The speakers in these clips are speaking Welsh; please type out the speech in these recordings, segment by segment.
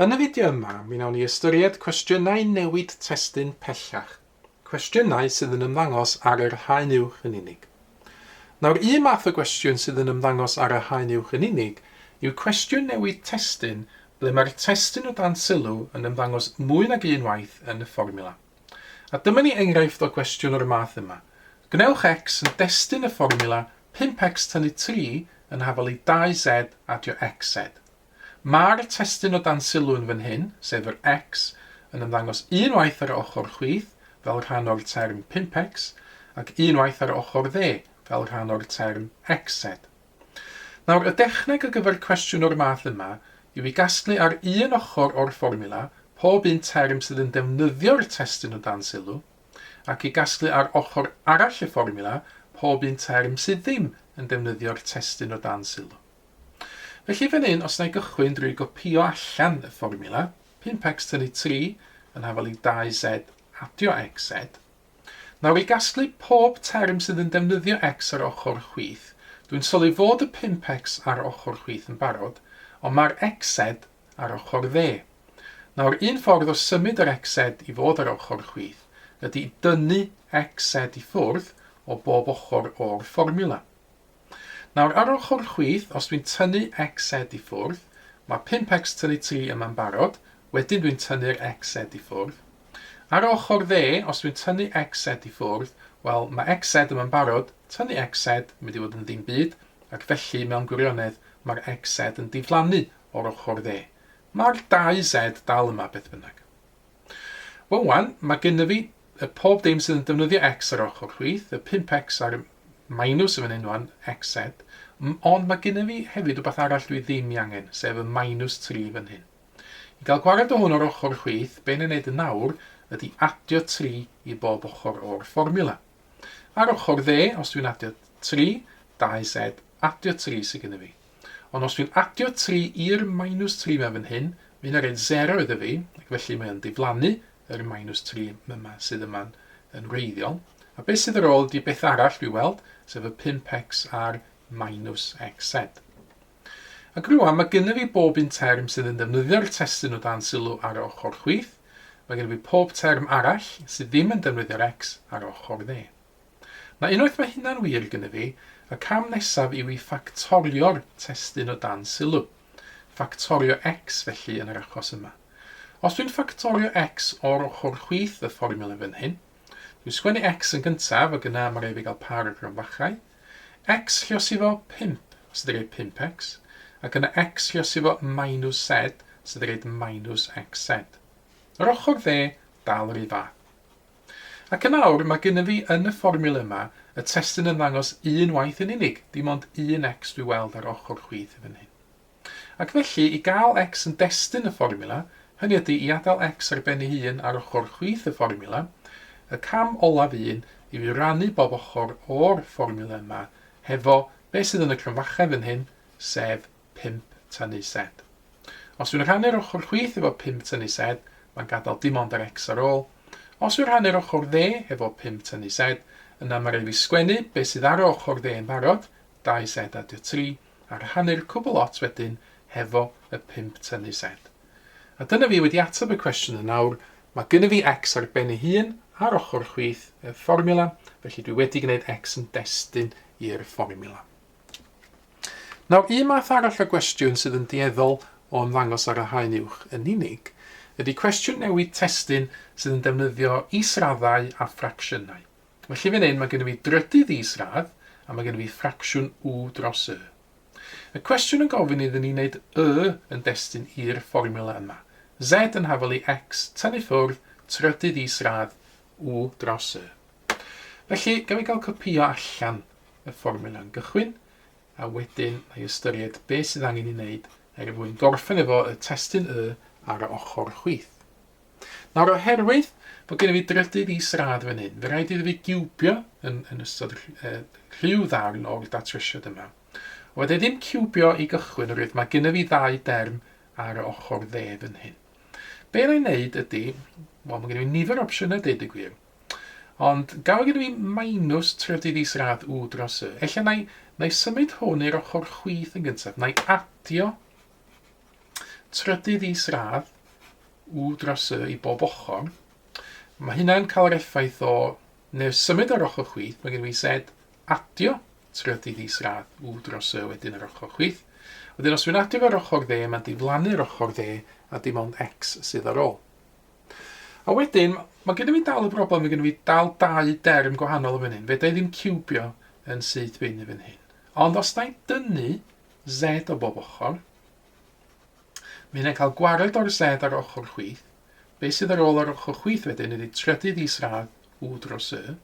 Yn y fideo yma, mi wnawn ni ystyried cwestiynau newid testun pellach, cwestiynau sydd yn ymddangos ar yr haen uwch yn unig. Nawr, un math o gwestiwn sydd yn ymddangos ar y haen uwch yn unig yw cwestiwn newid testun ble mae'r testun o dan sylw yn ymddangos mwy nag un waith yn y fformiwla. A dyma ni enghraifft o gwestiwn o'r math yma. Gwnewch x yn destun y fformiwla 5x tynnu 3 yn hafal i 2z adio xz. Mae'r testun o dan sylw yn fan hyn, sef yr X, yn ymddangos unwaith ar ochr chwith, fel rhan o'r term 5X, ac unwaith ar ochr dde, fel rhan o'r term XZ. Nawr, y dechneg ar gyfer cwestiwn o'r math yma yw i gasglu ar un ochr o'r fformiwla pob un term sydd yn defnyddio'r testun o dan sylw, ac i gasglu ar ochr arall y fformiwla pob un term sydd ddim yn defnyddio'r testun o dan sylw. Felly fan hyn, os na i gychwyn drwy gopïo allan y fformiwla, 5x tynnu 3 yn hafal i 2z adio xz. Nawr i gasglu pob term sydd yn defnyddio x ar ochr chwith, dwi'n sylwi fod y 5x ar ochr chwith yn barod, ond mae'r xz ar ochr dde. Nawr, un ffordd o symud yr xz i fod ar ochr chwith ydy i dynnu xz i ffwrdd o bob ochr o'r fformiwla. Nawr ar ochr chwith, os dwi'n tynnu XZ i ffwrdd, mae 5X tynnu 3 yma'n barod, wedyn dwi'n tynnu'r XZ i ffwrdd. Ar ochr dde, os dwi'n tynnu XZ i ffwrdd, wel, mae XZ yma'n barod, tynnu XZ, mynd i fod yn ddim byd, ac felly, mewn gwirionedd, mae'r XZ yn diflannu o'r ochr dde. Mae'r 2Z dal yma, beth bynnag. Wel 'wan, mae gynna fi y pob dim sydd yn defnyddio X ar ochr chwith, y 5X a'r minws yn fan hyn 'wan, XZ, ond mae gynna fi hefyd wbath arall dwi ddim i angen, sef y minws 3 fan hyn. I gael gwared o hwn ar ochr chwith, be na wneud yn nawr ydy adio 3 i bob ochr o'r fformiwla. Ar ochr dde, os dwi'n adio 3, 2Z, adio 3 sydd gynna fi. Ond os dwi'n adio 3 i'r minus 3 yma fan hyn, mae hynna'n rhaid 0 iddo fi, ac felly mae o'n diflannu yr minus 3 yma sydd yma'n yn wreiddiol. A beth sydd ar ôl ydy beth arall dwi weld, sef y 5x a'r minus xz. Ac rwan mae gynnu fi bob un term sydd yn defnyddio'r testyn o dan sylw ar y ochr chwith, mae gen i fi pob term arall sydd ddim yn defnyddio'r x ar ochr dde. Na unwaith mae hynna'n wir gynnyf i, y cam nesaf yw i ffactorio'r testun o dan sylw. Ffactorio X felly yn yr achos yma. Os dwi'n ffactorio X o'r ochr chwith y fformiwla fan hyn, dwi'n sgwennu X yn gyntaf ac yna mae rhaid fi gael par o gronfachau. X lliosifo 5 sydd yn rhaid 5X ac yna X lliosifo minus Z sydd yn rhaid minus XZ. Yr ochr dde dal yr un fath. Ac yn awr, mae gynna fi yn y fformiwla yma, y testun yn ddangos un waith yn unig, dim ond un X dwi weld ar ochr chwith fan hyn. Ac felly, i gael X yn destun y fformiwla, hynny ydi i adael X ar ben ei hun ar ochr chwith y fformiwla, y cam olaf un yw i rannu bob ochr o'r fformiwla yma hefo be sydd yn y cromfacha fan hyn, sef pump tynnu sed. Os yw'n rhannu'r ochr chwith efo pump tynnu sed, mae'n gadael dim ond yr X ar ôl. Os yw'n rhannu'r ochr dde hefo pump tynnu sed, yna mae'n rhaid fi sgwennu be sydd ar ochr dde yn barod, dau sed a dy tri, a rhannu'r cwbl lot wedyn hefo y pump tynnu sed. A dyna fi wedi ateb y cwestiwn yn awr, mae gynna fi X ar ben ei hun ar ochr chwith y fformiwla, felly dwi wedi gwneud X yn destun i'r fformiwla. Nawr, un math arall o gwestiwn sydd yn dueddol o ymddangos ar y haen uwch yn unig ydy cwestiwn newid testun sydd yn defnyddio israddau a ffracsiynau. Felly fan hyn mae gennym ni drydydd isradd a mae gennym ni ffracsiwn u dros y. Y cwestiwn yn gofyn iddyn ni wneud y yn destun i'r fformiwla yma, z yn hafal i x, tynnu ffwrdd trydydd isradd u dros y. Felly, gawn ni gael copïo allan y fformiwla'n gychwyn, a wedyn na'i ystyried beth sydd angen ei wneud er mwyn gorffen efo y testun Y ar y ochr chwith. Nawr, oherwydd bod gen i fi drydydd i srad fan hyn, fe rhaid iddo fi giwbio yn, yn ystod rhyw ddarn o'r datrysiad yma. O, dde ddim ciwbio i gychwyn, oherwydd mae gen i fi ddau derm ar y ochr dde fan hyn. Be na'i wneud ydy, wel, mae gen i fi nifer opsiynau deud y gwir. Ond gafodd gen i fi minus tref dydd Is radd u dros y. Ella na i, na i symud hwn i'r ochr chwith yn gyntaf. Na i adio trydydd is radd u dros y i bob ochr. Mae hynna'n cael yr effaith o neu symud ar ochr chwith, mae gen i fi sed adio trydydd is radd u dros y wedyn ar ochr chwith. Wedyn os dwi'n adio ar ochr dde, mae'n diflannu'r ochr dde a dim ond x sydd ar ôl. A wedyn, mae gennym ni dal y broblem, mae gennym ni dal dau derm gwahanol yn fan hyn. Fedra i ddim ciwbio yn syth bin yn fan hyn. Ond os da i dynnu Z o bob ochr, mae hynny'n cael gwared o'r Z ar ochr chwith. Be sydd ar ôl ar ochr chwith wedyn ydy trydydd isradd U dros Y.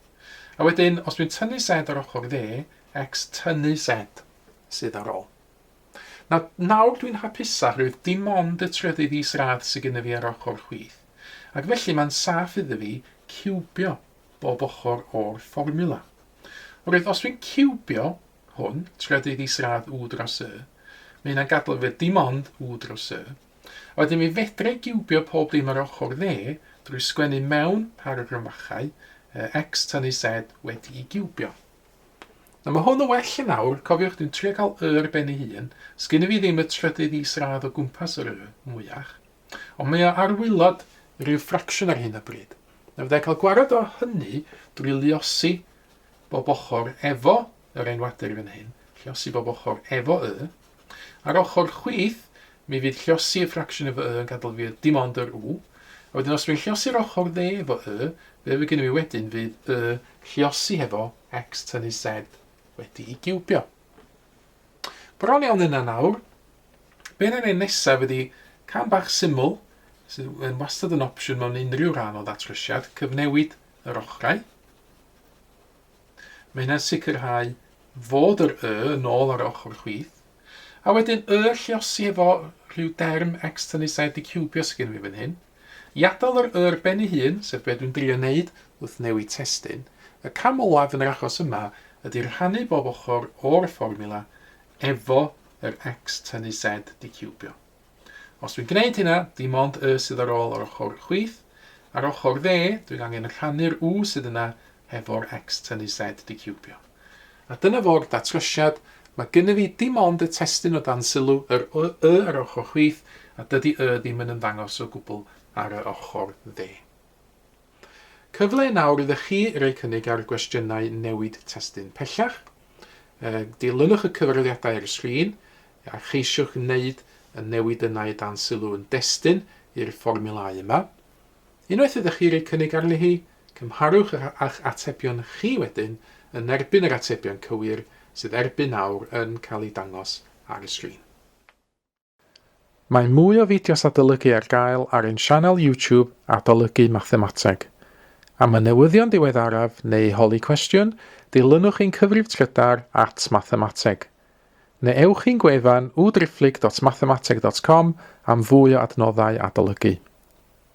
A wedyn, os dwi'n tynnu Z ar ochr dde, X tynnu Z sydd ar ôl. Na, nawr dwi'n hapusach oherwydd dim ond y trydydd is-radd sy gynna fi ar ochr chwith, ac felly mae'n saff idda fi ciwbio bob ochr o'r fformiwla. Oherwydd os dwi'n ciwbio hwn, trydydd is-radd u dros y, mae hynna'n gadael fi dim ond u dros y, a wedyn mi fedra i giwbio pob dim ar ochr dde drwy sgwennu mewn paragrafachau x tan y z wedi'i giwbio. Na ma hwn yn well yn awr, cofiwch dwi'n trio cael y ar ben ei hun, sgyn i fi ddim y trydydd is radd o gwmpas yr y, mwyach. Ond mae o ar waelod yr u ffracsiwn ar hyn o bryd. Na fydda i cael gwarad o hynny drwy luosi bob ochr efo yr enwadur fan hyn, lluosi bob ochr efo y, Ar ochr chwith, mi fydd llosi y ffracsiwn efo y yn gadael fi dim ond yr u, a wedyn os dwi'n llosi'r ochr dde efo y, be fydd gynnu fi wedyn fydd y llosi hefo x tynnu z wedi'i giwbio. Bron iawn yna nawr. Be na neud nesaf ydi cam bach syml, sydd yn wastad yn opsiwn mewn unrhyw rhan o ddatrysiad, cyfnewid yr ochrau. Mae hynna'n sicrhau fod yr y yn ôl ar ochr chwith. A wedyn y lliosi efo rhyw derm externis a wedi ciwbio sydd gen fi fan hyn. I adael yr y ar ben ei hun, sef be dwi'n drio wneud wrth newid testun, y cam olaf yn yr achos yma ydy rhannu bob ochr o'r fformiwla efo yr externis a wedi ciwbio. Os dwi'n gwneud hynna, dim ond y sydd ar ôl yr ochr chwith, a'r ochr dde, dwi'n angen rhannu'r u sydd yna hefo'r x tynnu z diciwbio. A dyna fo'r datrysiad, mae gynnyf fi dim ond y testun o dan sylw, yr y y ar yr ochr chwith, a dydy y ddim yn ymddangos o gwbl ar y ochr dde. Cyfle nawr iddo chi roi cynnig ar gwestiynau newid testun pellach. Dilynwch y cyfraliadau ar y sgrin, A cheisiwch wneud y newid yna i dan sylw yn destun i'r fformiwlâu yma. Unwaith ydych chi rhoi cynnig arni hi, cymharwch â'ch atebion chi wedyn yn erbyn yr atebion cywir sydd erbyn nawr yn cael eu dangos ar y sgrin. Mae mwy o fideos adolygu ar gael ar ein sianel YouTube Adolygu Mathemateg. Am y newyddion diweddaraf neu holi cwestiwn, dilynwch ein cyfrif trydar at Mathemateg. Neu ewch i'n gwefan www.driphlyg.mathemateg.com am fwy o adnoddau adolygu.